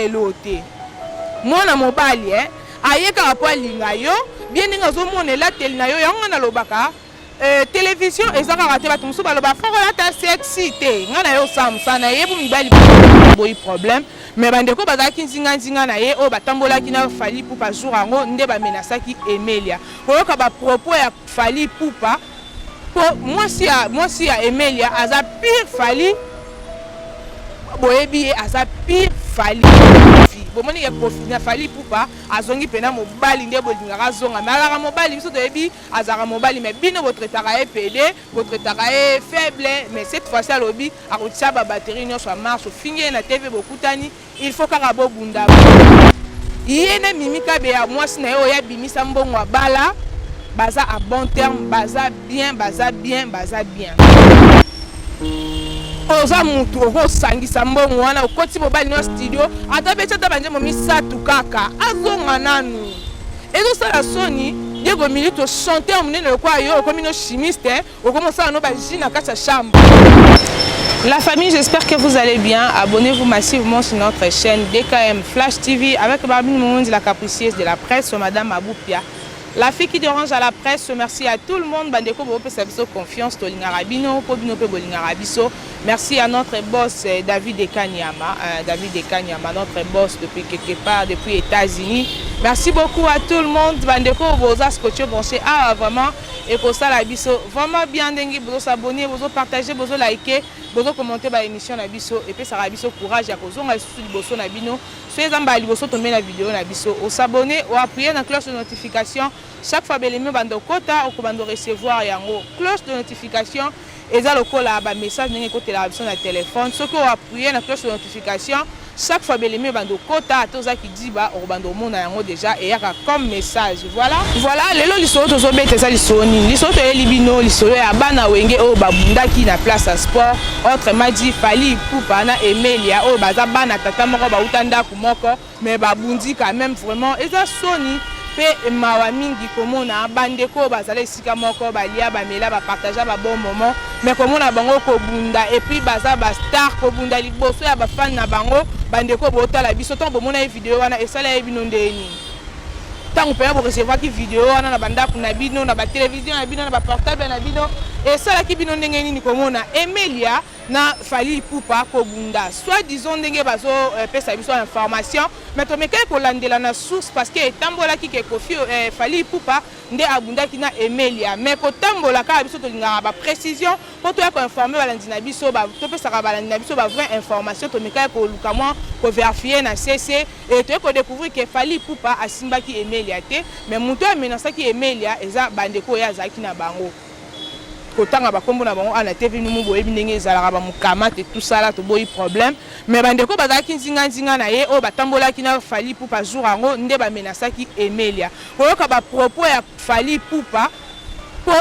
eloo te mwana mobali eh? aye kaka mpo alinga yo bien ndenge azomona elateli na yo yango ngai nalobaka eh, television eza kaka te bato mosusu baloba foko olata sexy te ngai na ye osamsa na ye bo mibali boyi problème mais bandeko bazalaki nzinganzinga na ye oyo batambolaki na fali pupa jour yango nde bamenasaki emelia koyoka bapropos ya fali pupa po mwasi ya mwasi ya Emelia aza pire Fally boyebi ye aza pire Fally bomoni ye profi na Fally Ipupa azongi pena mobali nde bolingaka azonga me alaka mobali biso toyebi azalaka mobali me bino botretaka ye pede botretaka ye faible mais cette fois-ci alobi akotia babatterie nyonso ya marche ofingi ye na tv bokutani il faut kaka bobunda ye na mimi kabeya mwasi na ye oyo abimisa mbongo abala baza a bon terme baza bien baza bien baza bien oza mutu okosangisa mbongo wana okoti mobali na studio ata beti ata banjembo misato kaka azonga nanu ezosala soni diego milito chanteur monene lokola yo okomi no chimiste Okomo sala no ba jus na kati ya chambre. La famille, j'espère que vous allez bien. Abonnez-vous massivement sur notre chaîne DKM Flash TV avec Barbine Moumondi, la capricieuse de la presse, Madame Aboupia. La fille qui dérange à la presse, merci à tout le monde. Bandeko Bope Sabiso Confiance, Tolingarabino, Pobino Pe Bolingarabiso. Merci à notre boss euh, David Ekanyama, euh, David Ekanyama, notre boss depuis quelque part, depuis États-Unis. Merci beaucoup à tout le monde. Bandeko Boza Scotcho Branché. Ah, vraiment. ekosala biso vraiment bien ndenge bozo s'abonner bozo partager bozo liker bozo commenter ba émission na biso epesaka biso courage ya kozonga lisusu liboso na bino so eza mbala liboso tomei na video na biso osabonne oappuye na cloche de notification chaque fois belemi obanda okota okobanda orecevoir yango cloche de notification Eza lokola ba message ndenge ekotelaka biso na telephone soki o appuyer na cloche de notification chaque fois belemi ebanda okota ata oza kidiba okobanda omona yango deja eyaka comme message voilà voilà lelo lisolo tozobeta eza lisolo nini lisolo toyeli bino lisolo ya bana wenge oyo babundaki na place ya sport autrement dit fali ipupa na emelia oyo baza bana tata moko bauta ndako moko Mais ba bundi quand même vraiment eza soni pe mawa mingi komona ba ndeko bazala esika moko balia ba mela ba partager ba bon moment mais komona bango kobunda et puis baza ba star kobunda liboso ya ba fan na bango ba ndeko botala biso tant bomona ye video wana esala ye bino ndenge nini ntango mpenza borecevaki video wana na bandako na bino na batelevizio na bino na baportable na bino esalaki bino ndenge nini komona emelia na Fally Ipupa kobunda soit disant ndenge bazo euh, pesa biso information mais tomekaki kolandela na source parce que etambolaki ke Koffi euh, Fally Ipupa nde abundaki na Emelia mais kotambola kaka biso tolingaka ba précision mpo toya koinforme balandi na biso topesaka balandi na biso ba vraie information tomekaki koluka mwa koverifie na sese e toyei kodécouvrir ke Fally Ipupa asimbaki Emelia te mais moto amenasaki Emelia eza bandeko oyo azalaki na bango kotanga bakombo na bango ana tv numu boyebi ndenge ezalaka bamukamate tusala toboyi problème me bandeko bazalaki nzinganzinga na ye oyo batambolaki na fali pupa jour yango nde bamenasaki emelia koyoka bapropos ya fali pupa mpo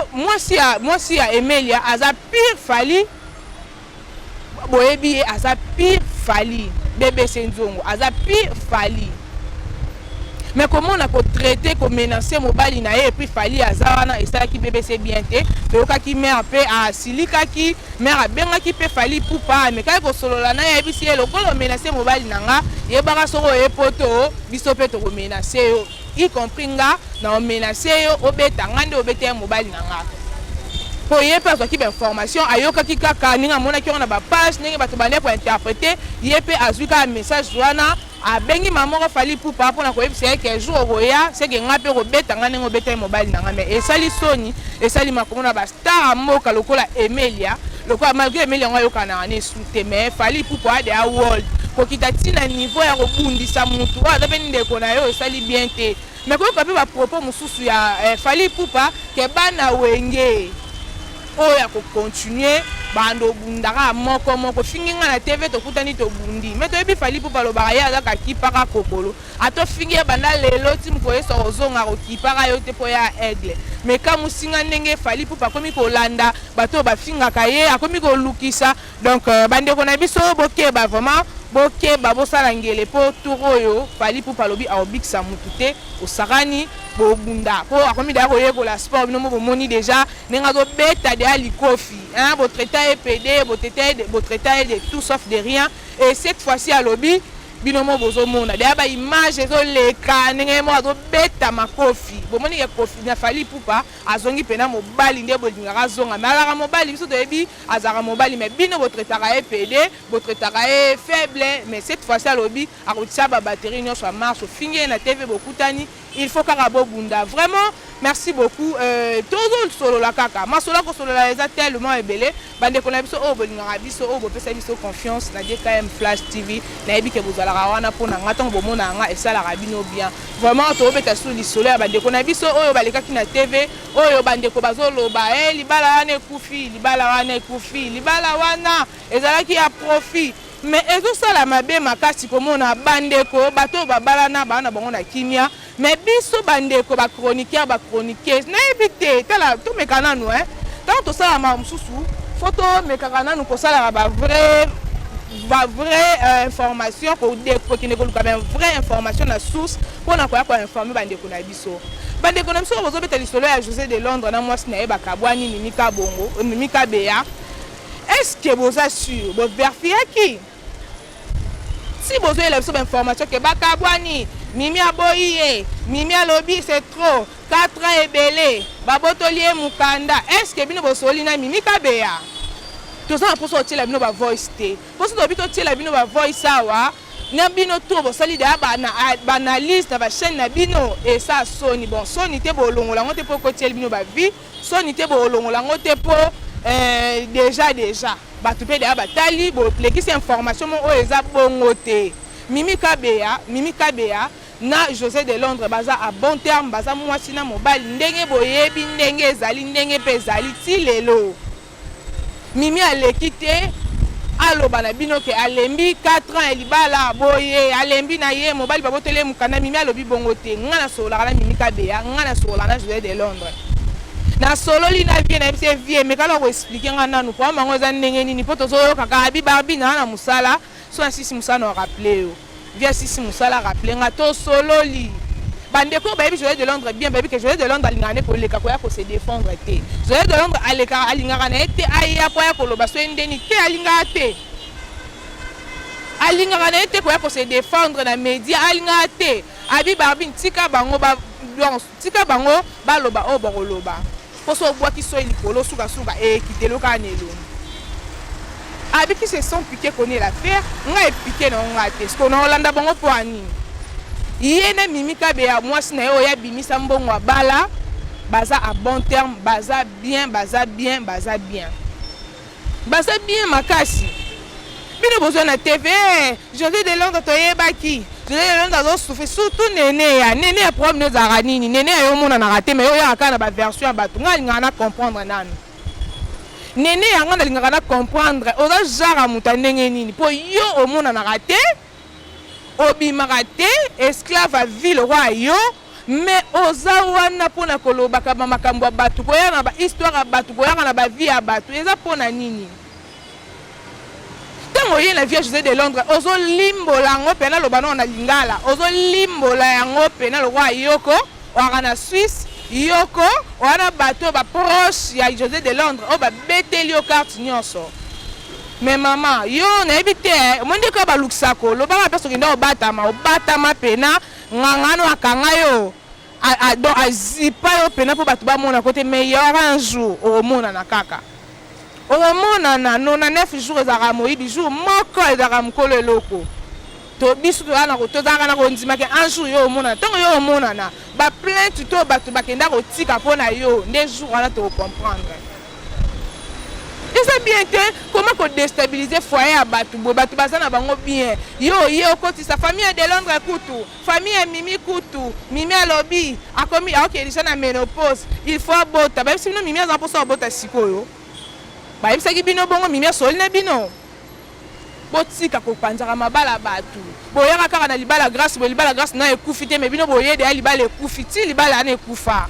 mwasi ya emelia aza pire fali boyebi ye aza pire fali bbc nzongo aza pire fali me komona kotraite komenance mobali na ye epuis fali aza wana esalaki bbc bien te toyokaki mare mpe asilikaki mare abengaki mpe fali pupa amekaki kosolola na ye ayebisi ye lokola omenase mobali na nga yebaka soko oye poto biso mpe tokomenase yo y compris nga na omenace yo obeta nga nde obeta ye mobali na nga po ye pe azwaki ba information ayokaki kaka ndenge amonaki yango na ba page ndenge bato bande ko interprete ye pe azwi kaka message wana abengi mama moko fali pupa mpona koyebisa ye ke jour okoya seke nga mpe kobeta nga ndenge obeta ye mobali na nga me esali soni esali makomona ba Tara mboka lokola Emelia lokola malgré Emelia yango ayokanaka ne su te mais Fally Ipupa ade a world kokita ti na niveau ya kobundisa mutu oyo aza mpe ndeko na yo esali bien te mais koyoka mpe ba propos mosusu ya eh, Fally Ipupa ke bana wenge oyo ya kocontinue bando obundaka moko moko fingi ngai na tv tokutani tobundi mais toyebi Fally Ipupa alobaka ye azaka kipaka kokolo Ata ofingi ye banda lelo ti mokolo Yesu akozonga akokipaka yo te mpo ya aigle. Mais ekamwisi nga ndenge Fally Ipupa akomi kolanda bato oyo bafingaka ye, akomi kolukisa. Donc euh, bandeko na biso bokeba vraiment, bokeba bosala ngele mpo tour oyo Fally Ipupa alobi akobikisa mutu te, osakani bobunda mpo akomi deja koyekola sport. Bino mo bomoni deja ndenge azobeta deja likofi hein, botraita ye pede, botraita ye de tout sauf de rien et cette fois-ci alobi bino mo bozomona deya ba image ezoleka ndenge ye moko azobeta makofi bomoni ke kofi na fali pupa azongi mpena mobali nde bolingaka azonga me alaka mobali biso toyebi azalaka mobali me bino botretaka ye pede botretaka ye faible mais cette fois-ci alobi akotia babatterie nyonso ya marche ofingi ye na tv bokutani Il faut kaka bo bunda vraiment merci beaucoup euh, tozo solola kaka masola ko solola eza tellement ebele bande kona biso oyo bolingaka biso oyo bopesa biso confiance na DKM Flash TV na yebi ke bozalaka wana pona nga tango bomona nga esalaka bino bien vraiment to beta sous lisolo ya bande kona biso oyo balekaki na TV oyo bande ko bazo loba eh libala wana ekufi libala wana ekufi libala wana ezalaki ya profit Mais ezo sala mabe makasi komona ba ndeko bato oyo babalana ba na bango na kimia mais biso ba ndeko ba chroniqueur ba chroniqueuse na yebi te tala to meka nanu hein tango to sala ma mususu faut to mekaka nanu ko sala ba vrai ba vrai euh, information ko de ko kende ko luka ba vrai information na source pona ko ya ko informer ba ndeko na biso ba ndeko na biso bozo beta lisolo ya José de Londres na mwasi na ye bakabwani mimi kabongo mimi kabeya Est ce que boza sur bo verifiaki si bozoyela biso bainformation ke bakabwani mimi aboyi ye mimi alobi c'est trop 4 ans ebele babotoli ye mokanda est ce que bino bosoli na mimi kabeya toza na mposa otyela bino bavoice te mposo tobi totyela bino bavoice awa na bino to bosali deya baanalyse na bachaine na bino esa soni bon soni te bolongola yango te mpo ekotyeli bino bavie soni te boolongola yango te mpo eh, deja deja bato mpe deya batali bolekisi information mo oyo eza bongo te mimi kabeya mimi kabeya na josé de londres baza a bon terme baza mwasi na mobali ndenge boyebi ndenge ezali ndenge mpe ezali ti lelo Mimi aleki te aloba na bino ke alembi 4 ans ya libala boye alembi na ye mobali baboteli ye mokanda mimi alobi bongo te nga nasololaka na mimi kabeya nga nasololaka na joseph de londres nasololi na vie nayebi se vie mekala koexplike nga nanu problème yango eza ndenge nini mpo tozoyoka kaka abi barbi naa na mosala so nasisi mosala na oraple yo Vieux Sisi Musala rappele nga to sololi. Bandeko oyo bayebi Joël de Londres bien bayebi ke Joël de Londres alingaka nde koleka koya ko se défendre te. Joël de Londres alekaka alingaka na ye te aya po aya koloba soki ndeni te alingaka te. Alingaka na ye te koya ko se défendre na media alingaka te. Abi Barbine tika bango ba donc Tika bango baloba oyo bakoloba mpo soki obwaki soyi likolo sukasuka ekitelo kaka na elongi. Abi qui se sent piquer connaît l'affaire, nga epike na nga te. Siko na olanda bango mpo ya nini? Ye na Mimi Kabeya mwasi na ye oyo abimisa mbongo abala baza a bon terme, baza bien, baza bien, baza bien. Baza bien makasi. Bino bozo na TV, eh, Jose de Londres toyebaki. Jose de Londres azo souffrir surtout Nene ya. Nene ya problème no ezalaka nini? Nene ya yo mona na raté mais yo ya kaka na ba version ya bato. Nga lingaka na comprendre nanu. Nene ya nga na lingaka na comprendre. Oza genre ya moto ya ndenge nini? Po yo omona na raté. Obimaka te esclave ya vie lokola yo mais oza wana pona kolobaka ba makambo ya batu koyaka na ba histoire ya batu koyaka na ba vie ya batu eza pona nini tango oye na vie ya Jose de Londres ozo limbola yango pena loba nao na lingala ozo limbola yango pena lokola yoko oaka na Suisse yoko wana bato ba proche ya Jose de Londres oyo babeteli yo carte nyonso Mais maman, yo nayebi te, omoni nde kaka balukisa ko lobaka mpe soki nda obatama, obatama pena nganga no akanga yo donc azipa yo pena mpo bato bamona ko te, mais il y aura un jour okomonana kaka, okomonana 99 jours ezalaka moyibi, jour moko ezalaka mokolo eloko to biso tozalaka na tozalaka na kondima ke un jour yo omonana, ntango yo omonana ba plainte to bato bakenda kotika mpo na yo nde jour wana toko comprendre. eza bien te koma kodestabilize foye ya bato boye bato baza na bango bien yo oye okotisa famille ya delondre kutu famille ya mimi kutu mimi alobi akomi aoke deja na menopause il faut abota bayebisi bino mimi aza mposa abota sikoyo bayebisaki bino bongo mimi asoli na bino Botika kopanzaka mabala batu boyaka kaka na libala grace boye libala grace na ekufi te mais bino boye deya libala ekufi ti libala ana ekufa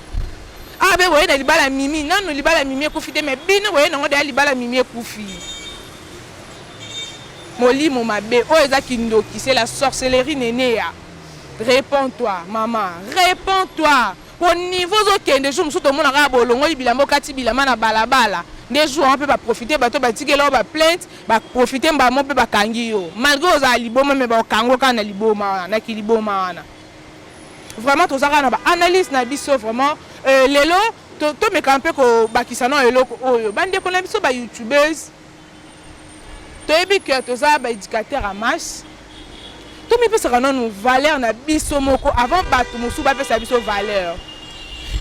awa be boye na libala mimi nanu libala mimi ekufi te mais bino boye nango deya libala mimi ekufi molimo mabe oyo eza kindoki c'est la sorcellerie neneya réponds toi mama réponds toi po niveau ozokende jour mosusu tomona kaka bolongoli bilamba okati bilamba na balabala nde jour wana mpe baprofite bato batikela yo baplainte baprofite mbala moko mpe bakangi yo malgre ozala liboma me baokango kaka na liboma wana na kiliboma wana vraiment toza kaka na baanalyse na biso vraiment euh, lelo tomekaka mpe kobakisa na eloko oyo bandeko na biso bayoutubers toyebi que toza ba éducateur ya masse tomipesaka nanu valeur na biso moko avant bato mosusu bapesa biso valeur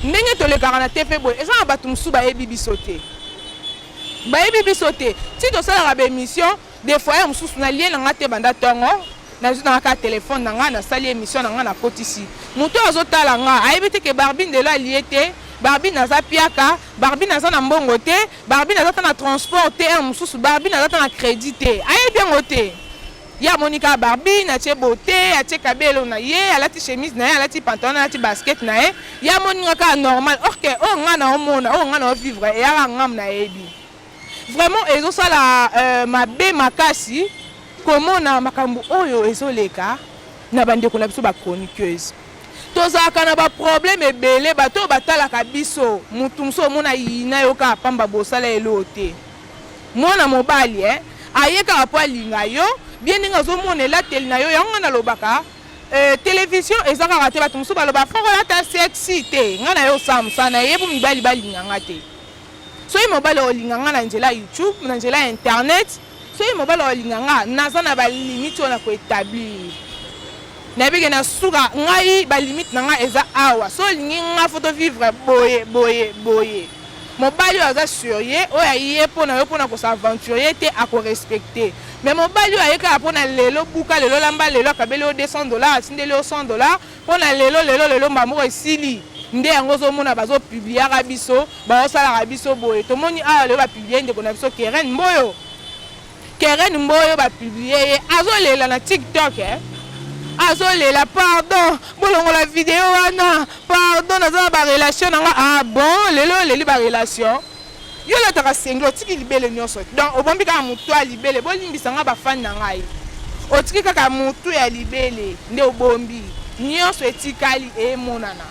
ndenge tolekaka na te mpe boye eza na bato mosusu bayebi biso te bayebi biso te ti tosalaka baémission de foyer mosusu na lie na ngai te banda ntongo nazwi na kaka telefone na ngai nasali émission na ngai nakotisi moto oyo azotala ngai ayebi te ke barbine delo alie te barbine aza piaka barbine aza na mbongo te Barbie naza ata na transport te heure mosusu Barbie naza ata na credit te ayebi yango te ye amoni kaka Barbie natie bote atie kabelo na ye alati chemise na ye alati pantalon alati basket na ye ye amoni nga kaka normal orke oyo nga na omona oyo nga na ovivre eyaka ngam nayebi vraiment ezosala euh, mabe makasi komona makambo oyo ezoleka na bandeko na biso bachroniqueuse tozalaka na ba problème ebele bato oyo batalaka biso mutu mosusu omona yina yo kaka pamba bosala eloo te mwana mobali eh? aye kaka mpo alinga yo bien ndenge azomona elateli na yo yango ngai nalobaka eh, television eza kaka te bato mosusu baloba foko olata sexy te ngai na yo osala mosala na ye mpo mibali balinga ngai te soki mobali olinga ngai na nzela ya youtube na nzela ya internet Soki mobali alinga nga, naza na ba limite oyo na ko etablir. Nayebi ke na suka ngai ba limite na nga eza awa. Soki olingi nga faut to vivre boye boye boye. Mobali oyo aza sur ye, oyo aye mpo na yo mpo na ko s'aventurer te a ko respecter. Mais mobali oyo aye kaka mpo na lelo buka, lelo lamba, lelo akabeli yo 200 dollars, atindeli yo 100 dollars, Pona lelo lelo lelo mbala moko esili nde yango ozomona bazo publiaka biso baosalaka biso boye tomoni awa lelo bapublie ndeko na biso keren mboyo keren mboyo bapublie ye azolela na tiktok eh? azolela pardon bolongola video wana pardon naza na barelation na nga ah bon lelo oleli barelation Yo olataka singlet otiki libele nionso donc obombi kaka mutu ya libele bolimbisa nga ba fan na ngai otiki kaka mutu ya libele nde obombi nionso etikali emonana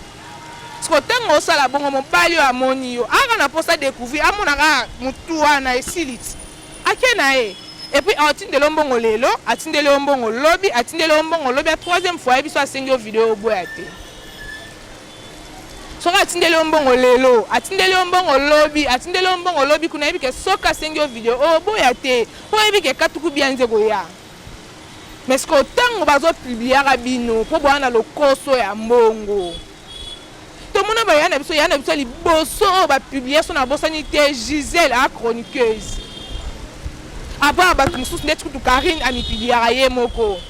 siko ntango osala bongo mobali oyo amoni yo aka na mposa découvrir amona kaka mutu wana esili ti ake na ye epuis atindeli yo mbongo lelo atindeli yo mbongo lobi atindeli yo mbongo lobi ya troisième fois ayebi so asengi yo video oboya te soki atindeli yo mbongo lelo atindeli yo mbongo lobi atindeli yo mbongo lobi kuna yebi ke soki asengi yo video oboya te mpo oyebi ke katuku bia nze koya mais sikoyo ntango bazopubliaka bino mpo boya na lokoso ya mbongo tomona baya na biso ya na biso liboso oyo bapublia so nabosani te gisele a chroniqueuse apart bato mosusu ndeti kutu karine amipubliaka ye moko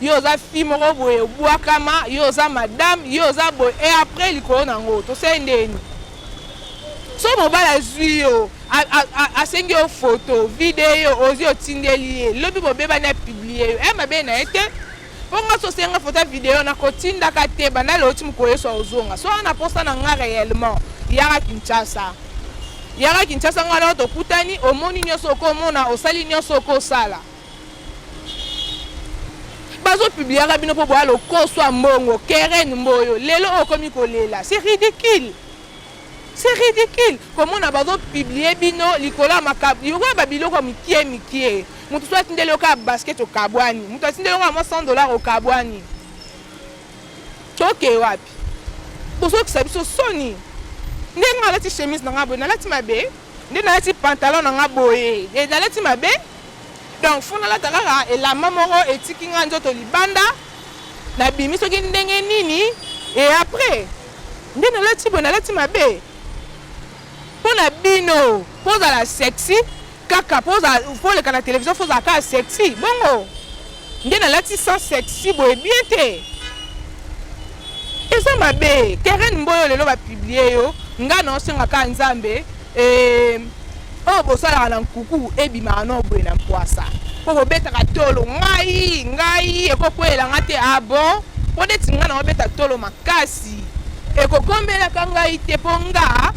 yo oza fille moko boye obwakama yo oza madame yo oza boye e après likolo na yango tosali ndeni so mobali azwi yo asengi yo foto video ozwi otindeli ye lobi bobebani apiblie yo e mabe na ye te mpo nga so osenga foto ya video nakotindaka te banda lelo ti mokolo yesu aozonga so wana mposa na nga réellement yaka kinshasa yaka kinshasa nga wana tokutani omoni nyonso okomona osali nyonso okosala bazo publiaka bino mpo boya lokoso ya mbongo keren mboyo lelo oyo okomi kolela c'est ridicule c'est ridicule komona bazo publie bino likolo ya makabo yokoya babiloko ya mikie mikie moto so atindeli yo kaka basket okabwani moto atindeli yonga mwa 100 dollar okabwani tokee wapi bozokisa biso soni ndenge nalati chemise na ngai boye nalati mabe nde nalati pantalon na ngai boye nalati mabe Donc faut nalata kaka elamba moko etiki nga nzoto libanda nabimi soki ndenge nini e après nde nalati boye nalati mabe mpo na bino mpo ozala sexy kaka mpo oleka na televizio mpo ozala kaka sexy bongo Nde nalati sans sexy boye bien te eza mabe keren mboyo lelo bapiblie yo ngai naosenga kaka nzambe eh, oyo oh, bosalaka na nkuku ebimaka no boye na mpwasa mpo bobetaka tolo ngai ngai ekokwelela ngai te abo ah mpo neti ngai naobeta tolo makasi ekokombelaka ngai te mpo nga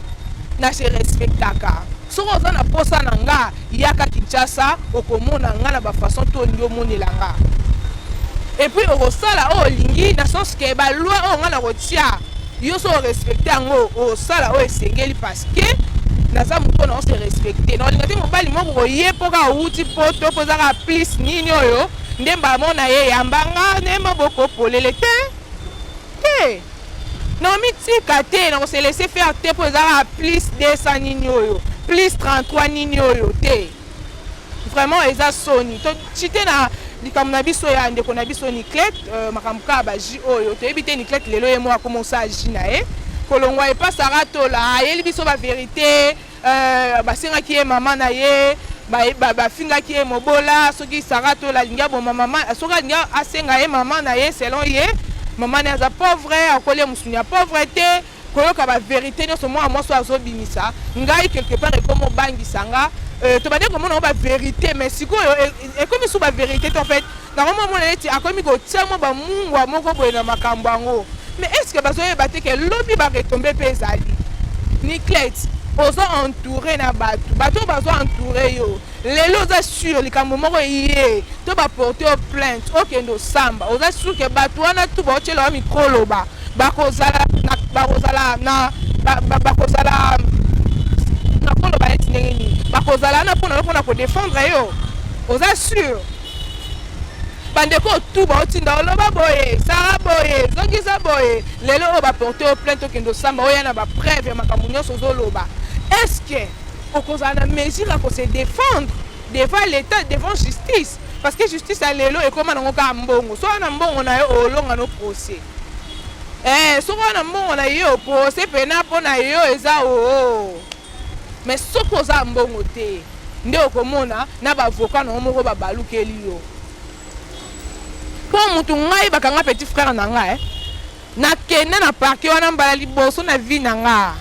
na se respectaka Soki oza na posa na nga, yaka Kinshasa, okomona nga na ba façon to olingi omonela nga. Et puis okosala oyo olingi na sens que ba loi oyo nga nakotia yo so respecte yango osala oyo esengeli parce que naza moto na ose respecte na olinga te mobali moko koye mpo kaka outi poto mpo ezaka plus nini oyo nde mbala moko na ye yambanga nde maboko polele te te Nakomitika te, nako se laisser faire te mpo eza kaka plus 200 nini oyo, plus 33 nini oyo te. Vraiment eza soni. To chite na likambo na biso ya ndeko na biso Niclette, euh, makambo kaka ba jus oyo. Toyebi te Niclette lelo ye moko akomosa jus na ye. Kolongwa epa Sarah Tola, ayeli biso ba verite. Euh, basengaki ye mama na ye bafingaki ye mobola soki sara tola alingi aboma mama soki alingi asenga ye mama na ye selon ye mama na ye aza pauvre akoli ye mosuni ya pauvre te koyoka baverité nyonso mwana mwasi oyo azobimisa ngai quelque part ekomi obangisa nga euh, tobandi komona yango baverité mais sikoyo e, e, ekomi su baverité te en fait Nakomi komona neti akomi kotia mwa ba mungwa moko boye na makambo yango. Mais est ce que bazo yeba te que lobi ba retombe pe ezali? Niclette, oza entoure na batu, batu oyo bazo entoure yo. Lelo oza sur likambo moko eye to ba porte yo plainte, okende osamba. Oza sur que batu wana tout bao tiela yo micro oloba, bako zala na bako zala na ba, ba, bako zala na koloba neti ndenge nini? Bako zala na pona yo pona ko defendre yo. Oza sur? bandeko oyo tu baotinda oloba boye sara boye zongisa boye lelo oyo baporte oyo plainte okende osamba oya na bapreuve ya makambo nyonso ozoloba est ce que okozala na mesure ya kose défendre devant l'état devant justice parce que justice ya lelo ekóma nango kaka mbongo soki na mbongo na yo olonga no procès eh, soki na mbongo na yo procès pena mpo na yo eza oo oh, oh. Mais soki oza na mbongo te nde okomona na ba avocats na yo moko ba balukeli yo. Po mutu ngai bakanga petit frère na nga eh. Na kende na parquet wana mbala liboso na vie na nga.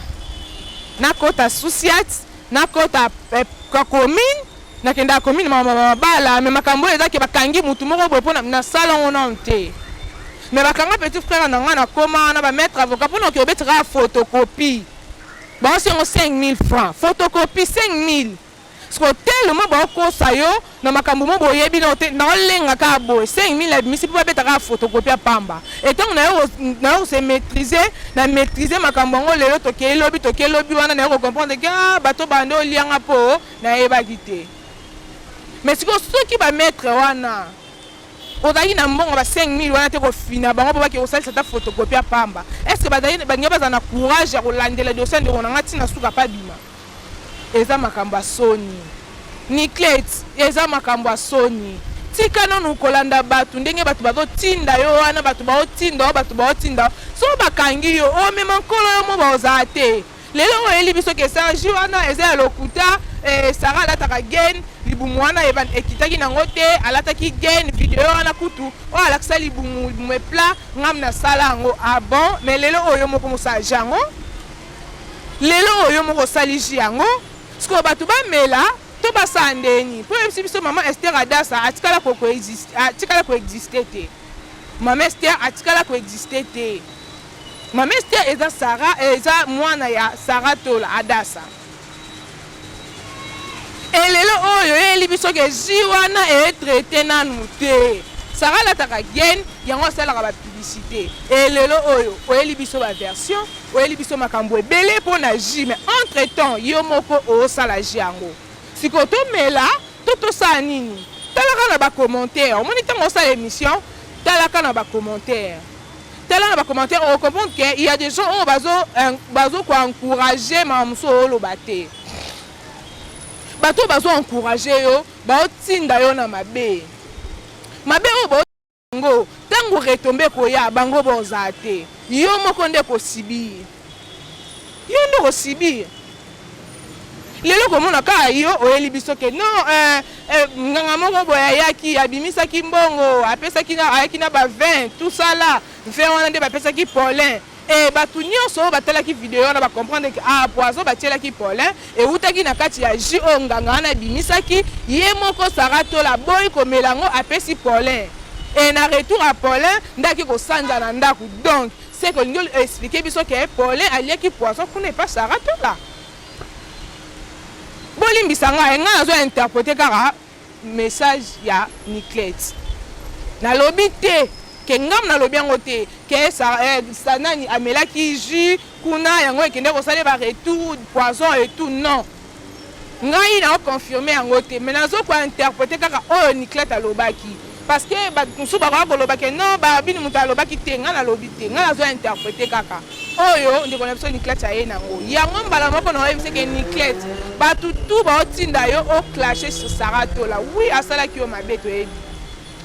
Na kota Susiat, na kota eh, ka commune, na kendaka commune ma mabala, mais makambo eza ke bakangi mutu moko boye pona na sala ngo na te. Mais bakanga petit frère na nga na koma na ba maître avocat pona ke obetaka photocopie. Baosi yango 5000 francs, photocopie 5000. Siko tellement baokosa yo na makambo mo boyebi na te, na olenga ka boye 5000 abimisi mpo babeta ka photocopie ya pamba. Et tango na yo na yo se maîtriser, na maîtriser makambo yango lelo tokei lobi tokei lobi wana na yo ko comprendre que ah bato bande olianga mpo nayebaki te. Mais siko soki ba maître wana Ozalaki na mbongo ba 5000 wana te kofina bango mpo bake kosalisa ata photocopie ya pamba. Est-ce que bazali balingi bazala na courage ya kolandela dossier ndeko na ngai ntina suka mpe abima? Eza makambo ya soni. Niclette, eza makambo ya soni. Tika nanu kolanda bato ndenge bato bazotinda yo wana bato baotinda yo bato baotinda yo. Soki bakangi yo omema nkolo yo moko baozala te. lelo oyo oyeli biso ke sarge wana eza ya lokuta eh, sara alataka gen libumu wana ekitaki nango te alataki gen video wana kutu oyo oh, alakisa libumu libumu epla ngam nasala yango ah bon mais lelo oyo moko mosalji yango lelo oyo moko osaliji yango sikoyo bato bamela to basala ndeni mpo oyebisi biso mama ester adasa atikala koexiste te mama ester atikala koexiste te Mama Esther eza Sarah eza mwana ya Sarah Tola Adasa. Et lelo oyo eyeli biso ke jus wana e traite nanu te. Sarah alataka gaine yango asalaka ba publicité. Et lelo oyo oyeli biso ba version, oyeli biso makambo ebele mpo na jus mais entre temps yo moko osala jus yango. Siko tomela to tosala nini? Talaka na ba commentaires. Omoni ntango osala emission talaka na ba commentaires. tala na ba commentaire o comprendre que il y a des gens oyo bazo bazo ko encourager ma muso oloba te bato bazo encourager yo bao tinda yo na mabe mabe oyo bao ngo tango retombe koya bango boza te yo moko nde ko subir Yo nde oko subir. Lelo komona kaka yo oyeli biso ke non eh, eh, nganga moko boye ayaki abimisaki mbongo apesaki na ayaki na ba 20 tout ça là 20 wana nde bapesaki Paulin e bato nyonso oyo batalaki video wana bacomprendre ke ah poison batielaki Paulin ewutaki na kati ya jus oyo nganga wana abimisaki ye moko Sarah Tola boyi komela yango apesi Paulin e na retour ya Paulin ndaki kosanza na ndako donc Seke olingi o expliquer biso ke Paulin aliaki poison kuna epa Sarah Tola? Bolimbisa ngai, ngai nazo interpreter kaka message ya Niclette. Nalobi te ke ngai nalobi yango te ke eh, nani amelaki jus kuna yango ekende kosala ba retour poison et tout non. Ngai nao confirmer yango te mais nazo ko interpreter kaka oyo Niclette alobaki parce que batu mosusu bakoya koloba ke non ba bini moto alobaki te ngai nalobi te ngai nazo interpreter kaka oyo ndeko na biso Niclette aye nango yango mbala moko na oyebisi ke Niclette batu tout baotinda yo o clasher sur Sarah Tola oui asalaki yo mabe toyebi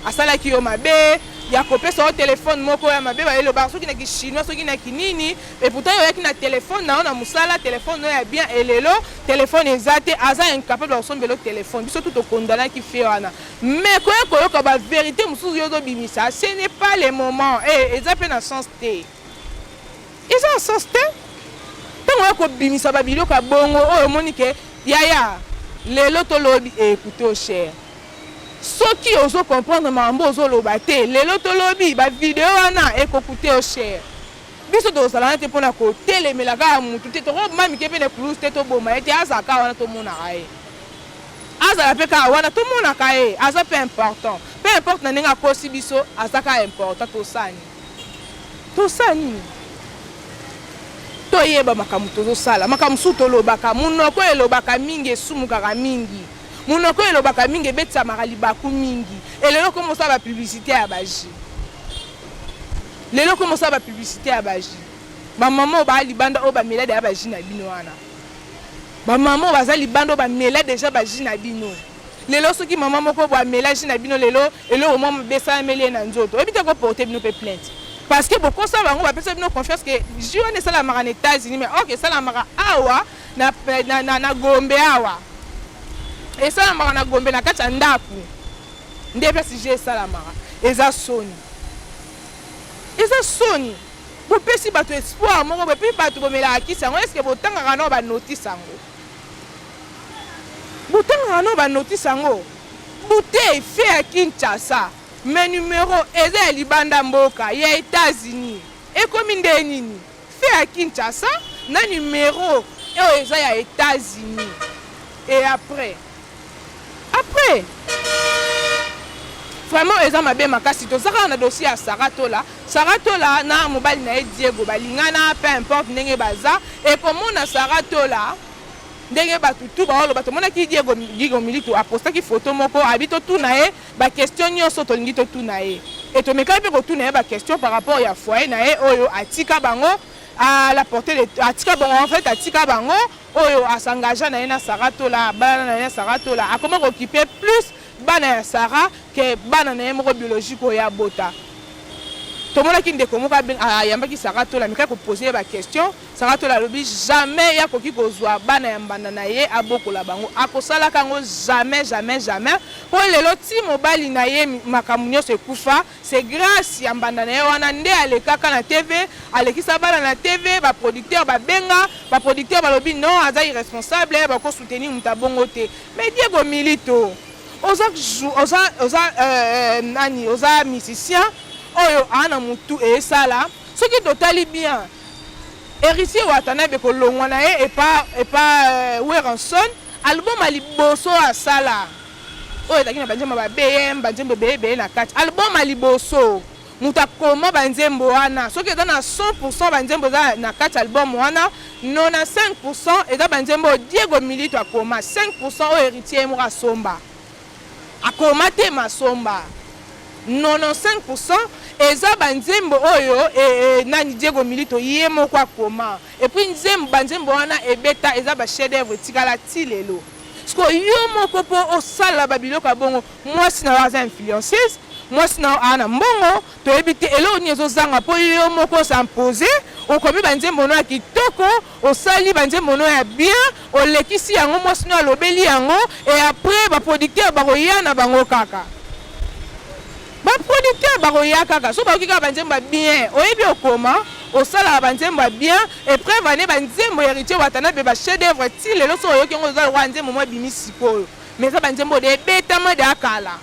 asalaki yo mabe ya kopesa yo telefone moko ya mabe bayeloba soki na kishinois soki na kinini Et pourtant yo yaki na téléphone na yo na musala téléphone oyo ya bien et lelo téléphone eza te aza incapable ya kosombela téléphone biso tout okondanaki fie wana mais koya koyoka ba vérité mosusu yo ozobimisa ce n'est pas le moment e eza mpe na sens te eza na sens te ntango ya kobimisa babiloko ya bongo oyo omoni ke yaya lelo tolobi ekute o cher soki ozo comprendre makambo ozoloba te lelo tolobi bavideo wana ekokute o cher Biso tozala wana te mpo na kotelemela kaka motu te, tokoboma mike mpe na ekulusu te, toboma ye te, azala kaka wana tomonaka ye, azala mpe kaka wana tomonaka ye, aza mpe important, peu importe na ndenge akosi biso, aza kaka important, tosala nini? Tosala nini? Toyeba makambo tozosala, makambo mosusu tolobaka, monoko elobaka mingi, esumukaka mingi, monoko elobaka mingi, ebetisamaka libaku mingi, elelo okoma osala ba publicite ya ba jus. lelo ko mosala ba publicité ya ba jus ba maman oyo baa libanda oyo bamela deja ba jus na bino wana ba maman oyo baza libanda oyo bamela deja ba jus na bino lelo soki mama moko bo amela jus na bino lelo eloko mwa mabe esalameli ye na nzoto oyebi te koporte bino mpe plainte parce que bokosa bango bapesa bino confiance ke jus wana esalamaka na états-unis mais ok esalamaka awa na, na, na, na gombe awa esalamaka na gombe na kati ya ndako Nde place je esalamaka eza soni, eza soni. Bopesi bato espoir moko boye, mpe bato bomelaka kisi yango. Eske botangaka nao banotisi yango? Botangaka nao banotisi yango? Bouteille fait ya Kinshasa, mais numero eza ya libanda mboka, ya Etats-Unis. Ekomi nde nini? Feu ya Kinshasa na numero oyo eza ya Etats Unis et après après vraiment eza mabe makasi toza kaka na dossier ya Sarah Tola Sarah Tola na mobali na ye Diego balingana peu importe ndenge baza ekomona Sarah Tola ndenge bato tu baoloba tomonaki diego diego militu apostaki foto moko abi totuna ye Ba questions nioso tolingi totuna ye et tomekaki pe kotuna ye ba questions par rapport ya foyer na ye oyo atika bango à la portee de atika bango en fait atika bango oyo a s'engagea na ye na Sarah Tola abalana na ye na Sarah Tola akoma kokipe plus bana ya Sarah que bana na ye moko biologique oyo ye abota tomonaki ndeko moko ayambaki Sarah Tola amekaki ko poser ye ba questions Sarah Tola alobi jamais ye akoki kozua bana ya mbanda na ye abokola bango, akosalaka yango jamais jamais jamais po lelo ti mobali na ye makambo nionso ekufa c'est grace ya mbanda na ye wana nde alekaka na TV alekisa bana na TV ba producteur ba benga ba producteur balobi non aza irresponsable bako soutenir moto ya bongo te mais Diego Milito oza oza oza euh, nani oza musicien oyo aana mutu esala soki totali bien Heritier Watanabe kolongwa na ye epa epa euh, Werrason album ya liboso asala oyo ezalaki na banzembo ba BM banzembo ebele ebele na kati album ya liboso moto akoma banzembo wana soki eza na 100 banzembo eza na kati album wana 95 eza banzembo oyo Diego Milito akoma 5 oyo Heritier ye moko asomba Akoma te masomba. 95 pour cent eza ba nzembo oyo e, e, nani Diego Milito ye moko akoma. Et puis nzembo ba nzembo wana ebeta eza ba chef d'œuvre etikala ti lelo. Siko yo moko po osala ba biloko ya bongo mwasi na yo aza influenceuse mwasi na yo aa na mbongo toyebi te eloko nini ezozanga mpo yo moko osa impose okomi banzembo no ya kitoko Osali ba nzembo no ya bien, olekisi yango mwasi no alobeli yango et après ba producteurs bakoya na bango kaka. Ba producteurs bakoya kaka so bayoki kaka ba nzembo ya bien. Oyebi okoma, osalaka ba nzembo ya bien et preuve en est ba nzembo ya Heritier Watanabe ba chef d'œuvre ti lelo so oyoki yango eza lokola nzembo moko ebimi sikoyo. Mais eza ba nzembo oyo ebetama dejà kala.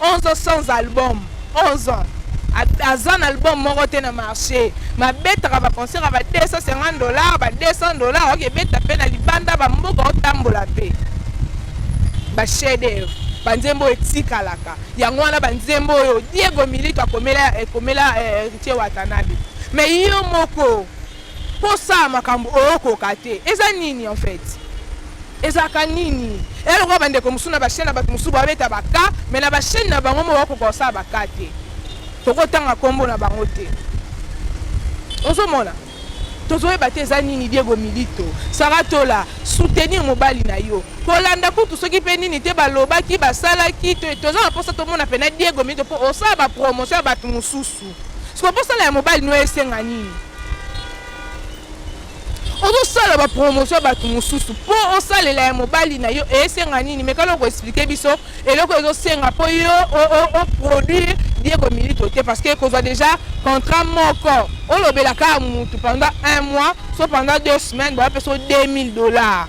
11 ans sans album 11 ans aza na album moko te na marché mabetaka baconcert ya ba 250 dollars ba 200 dollars oke ebeta mpe na libanda bamboka otambola mpe bachef d'œuvre banzembo oyo etikalaka yango wana banzembo oyo diego milito akomela ekomela eh, ritie watanabe me yo moko Ko sala makambo o koka te eza nini en fait? Ezalaka nini? Eza lokola ba ndeko mosusu na ba chaine na batu mosusu ba beta ba cas mais na ba chaine na bango moko ba koka ko sala ba cas te. Toko tanga kombo na bango te. Ozo mona? Tozo yeba te eza nini Diego Milito, Sarah Tola soutenir mobali na yo. Ko landa kutu soki pe nini te ba lobaki ba salaki toza na posa to mona pena Diego Milito po o sala ba promotion ya batu mosusu. Siko bosala ya mobali no esenga nini? ozosala bapromotion ya bato mosusu mpo osalela ya mobali na yo esenga nini mekana koexplike biso eloko ezosenga mpo yo oproduire diego milito te parce que kozwa déjà contrat moko olobelaka motu pendant un mois so pendant deux semaines boya mpe so 2000 dollars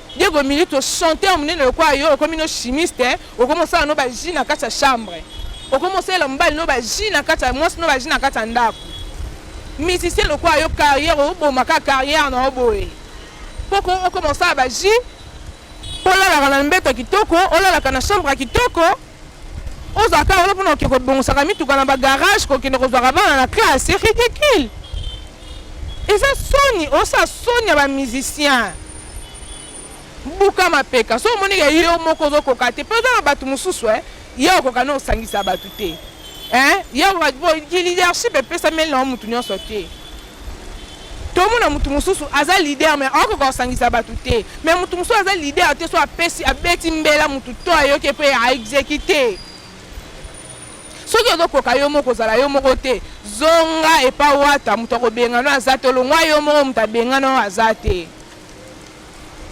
Diego Milito chanteur munene lokola yo okomi no chimiste hein? okomi osala no baji na kati ya chambre okomi osalela mobali no baji na kati ya mwasi no baji na kati ya ndako musicien lokola yo carrière oboma kaka carrière na yo boye poko okoma osala baji olalaka na mbeto kitoko olalaka na chambre ya kitoko ozwa kaka wana mpona oke kobongisaka mituka na bagarage kokende kozwaka bana na classe c'est ridicule eza soni osala soni ya bamusicien buka mapeka so omoni ke yo moko ozokoka te mpe oza na bato mosusu e eh, ye okoka na osangisa bato te eh, ye okoka leadership epesameli na yo motu nyonso te tomona motu mosusu aza leader me akokoka kosangisa bato te me motu mosusu aza leader te so apesi abeti mbela motu to ayoki mpe aexekite soki ozokoka yo moko kozala yo moko te zonga epa wata moto akobengana oyo aza te olongwa yo moko moto abengana oyo aza te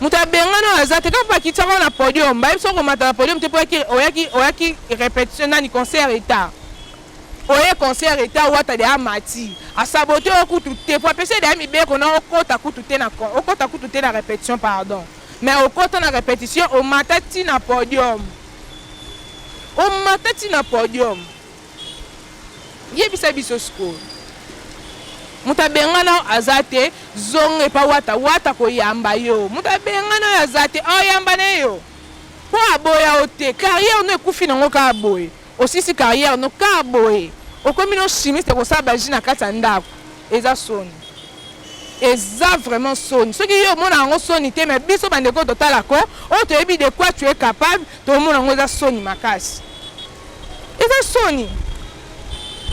moto abengana oyo aza te kaka mpo akitisaka oyo na podium bayebi soki okomata na podium te mpo oyaki repetition nani concert etat Oye concert eta wata de amati asabote yo kutu te po apesa de mibeko na okota kutu te na okota kutu te na repetition pardon mais okota na repetition omata ti na podium omata ti na podium yebisa biso sikoyo moto abengana oyo aza te zonga epa wata wata koyamba yo moto abengana oyo aza te oyamba na yo mpo aboya yo te carrière no ekufi nango kaka boye Osilisi carrière no car boye. Okomi no chimiste kosala ba jus na kati ya ndako. Eza soni. Eza vraiment soni. Soki yo omona yango soni te mais biso ba ndeko totala ko oyo toyebi de quoi tu es capable tomona yango eza soni makasi. Eza soni.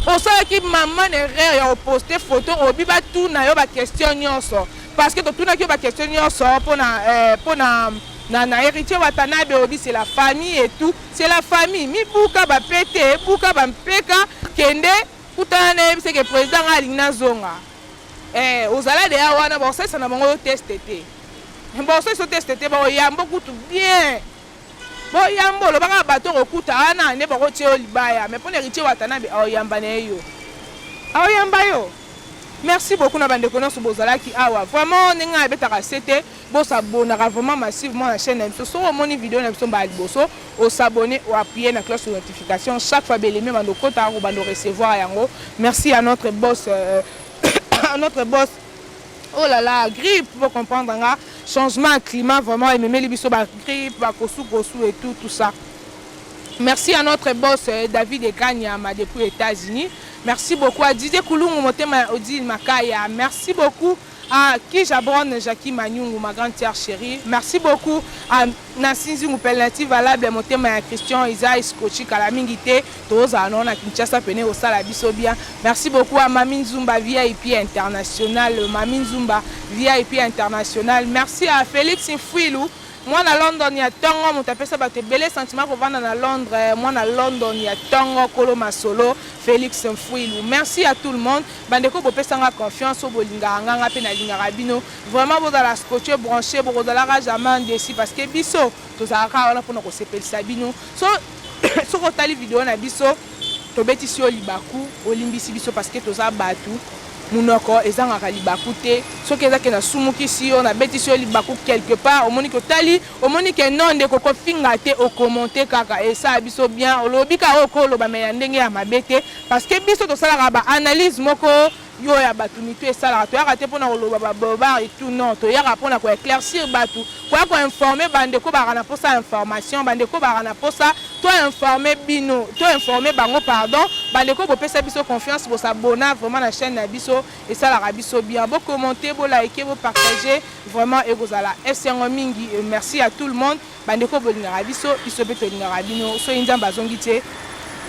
Osalaki maman erreur ya oposte photo obi batuna yo ba question nyonso parce que totunaki yo ba question nyonso pona eh, pona na, na héritier Watanabe obi c'est la famille et tout C'est la famille mibuka ba pete buka ba mpeka kende kutana na yebisa ke président nga alingi nazonga eh ozala deya wana bakosalisa na bango yo teste te bakosalisa yo teste te bakoyambo kutu bien boyambo olobaka bato okokuta wana nde bakotia yo libaya mais mpo na héritier watanabe aoyamba na ye yo aoyamba yo merci beaucoup na bandeko nyonso bozalaki awa vraiment ndenge ngai abetaka sete Bo s'abonnaka vraiment massivement na chaîne na biso. Soki omoni video na biso mbala liboso, o s'abonner, o appuyer na cloche de notification. Chaque fois belemi ebanda okota, okobanda recevoir yango. Merci à notre boss, euh, à notre boss. Oh là là, grippe, vous comprendre nga. Changement climat vraiment ememeli biso ba grippe, ba kosu kosu et tout tout ça. Merci à notre boss euh, David Ekanyama depuis États-Unis. Merci beaucoup à Didier Kulungu Motema Odile Makaya. Merci beaucoup. Ah ki jabron Jackie Manyungu ma grande sœur cherie merci beaucoup ah na sinzi ngupel na ti valable motema ya Christian eza escrochi kala mingi te tozala na na Kinshasa pene osala biso bien merci beaucoup à Mami Nzumba VIP international Mami Nzumba VIP international merci à Felix Mfuilu Mwana London ya tongo moto apesa bato ebele sentiment kovanda na Londres mwana London ya tongo kolo masolo Felix Mfuilu merci à tout le monde bandeko bopesa nga confiance oyo bolingaka nga nga mpe nalingaka bino vraiment bozala scotche branche bokozalaka jamais ndesi parce que biso tozalaka kaka wana mpona kosepelisa bino so soki otali video na biso tobetisi yo libaku olimbisi biso parce que toza bato Munoko ezangaka libaku te soki eza ke na sumukisi yo na betisi yo libaku quelque part omoni ke otali omoni ke non ndeko ko finga te o commente kaka esala biso bien olobi kaka oyo oko loba mais ya ndenge ya mabe te parce que biso tosalaka ba analyse moko yo ya batu mitu esalaka toyaka te pona koloba ba bobard et tout non toyaka pona ko eclaircir batu Koya ko informer ba ndeko bazalaka na posa ya information, ba ndeko bazalaka na posa to informer bino, to informer bango pardon, ba ndeko bopesa biso confiance bo s'abonna vraiment na chaine na biso esalaka biso bien, bo commenter, bo liker, bo partager vraiment ekozala esengo mingi et merci à tout le monde ba ndeko bolingaka biso, biso mpe tolingaka bino, soki Nzambe azongi te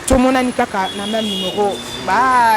tomonani kaka na meme numero bye.